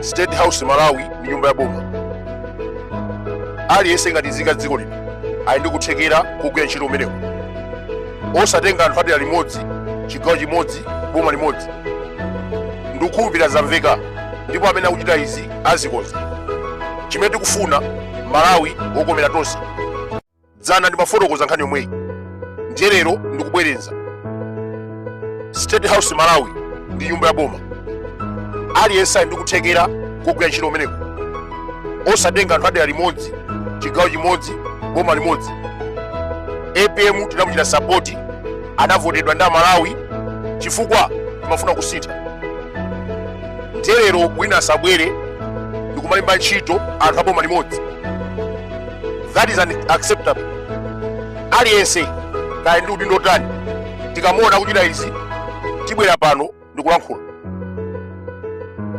State House Malawi ndi nyumba ya boma. Aliyense ngati nzika dziko lino ali ndi kuthekera kugwira ntchito kumeneku. Osatenga anthu adera limodzi, chigawo chimodzi, boma limodzi. Ndikukhulupirira zamveka ndipo amene akuchita izi azikonza. Chimene tikufuna Malawi wokomera tonse. dzana ndimafotokoza nkhani yomweyi ndiye lero ndikubwereza state house malawi ndi nyumba ya boma aliyense ali ndi kuthekera kogwira ntchito kumeneko osatenga anthu adera limodzi chigawo chimodzi boma limodzi apm tinamuchita sapoti anavotedwa ndi amalawi chifukwa timafuna kusintha ndiye lero wina asabwere ndikumalemba ntchito anthu aboma limodzi that is unacceptable aliyense kaya ndi udindo wanji tikamuona akuchita izi tibwera pano ndikulankhula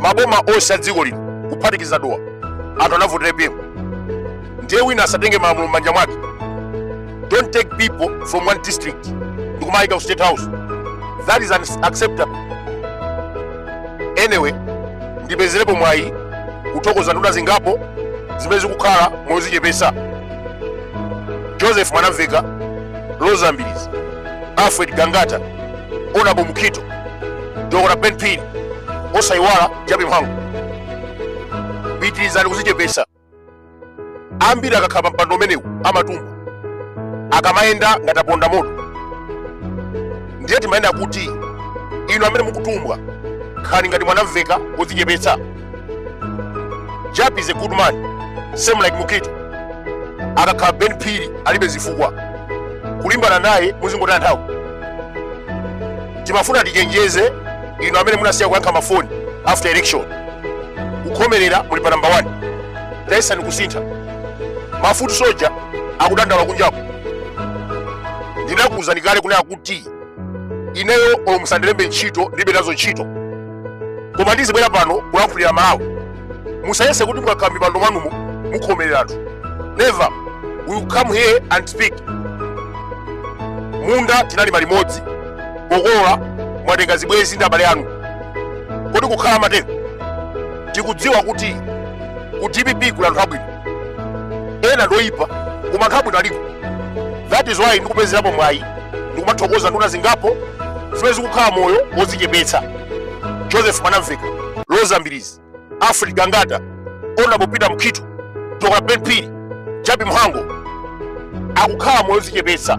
maboma onse a dziko lino kuphatikiza dowa anthu anavotera apm ndiye wina asatenge malamulo m'manja mwake don't take people from one district ndikumayika ku state house that is unacceptable anyway ndipezerepo mwayi kuthokoza nduna zingapo zimene zikukhala mozichepesa joseph mwanamvekha roza mbilizi alfred gangata honourable mukhito dr ben phiri osayiwala jappie mhango pitirizani kuzichepesa ambiri akakhala pa mpando umenewu amatumbwa akamayenda ngati aponda moto ndiye timanena kuti inu amene mukutumbwa khalani ngati mwanamvekha wodzichepetsa jappie is a good man same like mukhito akakhala ben phiri alibe zifukwa kulimbana naye muzingotaya nthawi timafuna tichenjeze inu amene munasiya kuyankha mafoni after election kukhomerera muli pa namba 1 tayesani kusintha ma foot soldier akudandaula kunjaku ndinakuwuzani kale kunena kuti ineyo olo musandilembe ntchito ndilibe nazo ntchito koma ndizibwera pano kulankhulira amalawi musayese kuti mukakhala mipando mwanumo mukhomerera anthu never we will come here and speak munda tinalima limodzi pokolola mwatenga zibwezi ndi abale anu kodi kukhala matero tikudziwa kuti ku dpp kuli anthu abwino ena ndoyipa koma anthu abwino aliko that is why ndikupezerapo mwayi ndikumathokoza nduna zingapo zimene zikukhala moyo wodzichepetsa joseph mwanamvekha roza mbilizi Alfred Gangata, Honorable Peter Mukhito, Dr. Ben Phiri, Jappie Mhango akukhala moyo odzichepetsa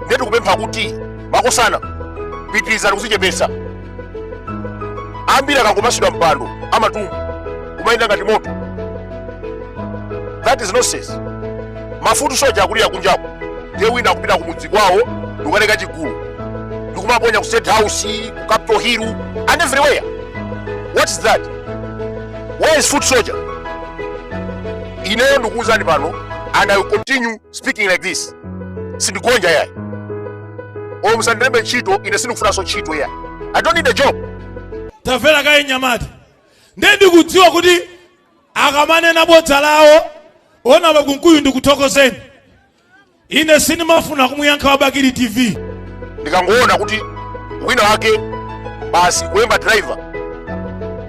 ndiye tikupempha kuti makosana pitirizani kudzichepetsa ambiri akangopatsidwa mpando amatumbwa kumayenda ngati moto that is nonsense ma foot soldier akulira kunjaku ndiye wina akupita kumudzi kwawo ndikukatenga chigulu ndikumaponya ku state house ku Capital Hill and everywhere. What is that? Where is foot soldier? Ineyo ndikuwuzani pano and I will continue speaking like this. Sindigonja yayi. Olo musandilembe ntchito ine sindikufunanso ntchito yayi. I don't need a job. tamvera kaye mnyamata ndiye ndikudziwa kuti akamanena bodza lawo Honorable Kunkuyu ndikuthokozeni ine sindimafuna kumuyankha wa bakili tv ndikangoona kuti wina wake basi kulemba driver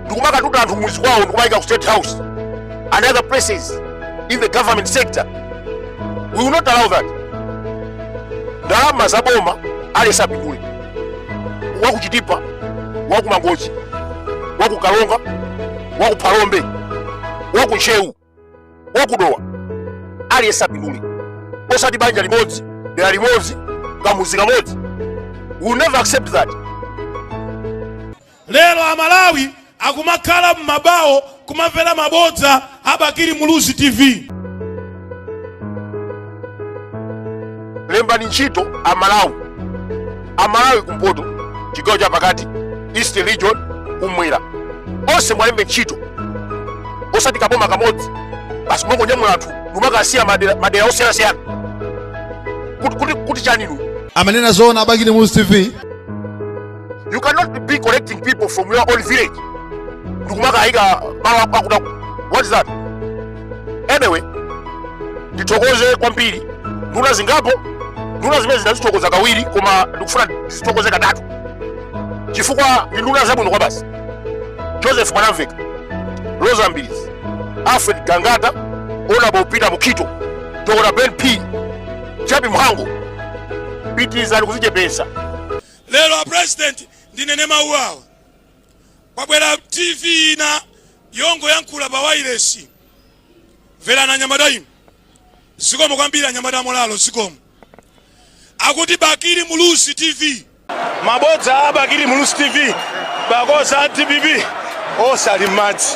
ndikumakatuta anthu m'muzi kwawo ndikumayika ku state house and other places in the government sector we will not allow that ndalama za boma aliyense apindule wakuchitipa wakumangochi wakukaronga wakuphalombe wakuntcheu wakudowa aliyense apindule osati banja limodzi dera limodzi kamuzi kamodzi we will never accept that lero amalawi akumakhala m'mabawo kumamvera mabodza a bakili muluzi tv lembani ntchito amalawi amalawi kumpoto chigawo cha pakati eastern region kumwera onse muwalembe ntchito osati kaboma kamodzi basi mongonyamula anthu ndikumakasiya madera madera osiyanasiyana kuti kuti kuti chani inu amanena zoona a bakili muluzi tv you cannot be collecting people from your own village ndikumakayika malo akuluakulu what is that anyway ndithokoze kwambiri nduna zingapo nduna zimene ndinazithokoza kawiri koma ndikufuna ndizithokoze katatu chifukwa ndi nduna zabwino kwabasi joseph mwanamvekha rosa mbilizi alfred gangata honorable peter mukhito dr ben phiri jappie mhango pitirizani kuzichepesa lero a president ndinene mawu awa kwabwera tv ina yongoyankhula pa wailesi mverani anyamata inu zikomo kwambiri anyamata amolalo zikomo akuti bakili muluzi tv mabodza a bakili muluzi tv because a dpp onse ali m'madzi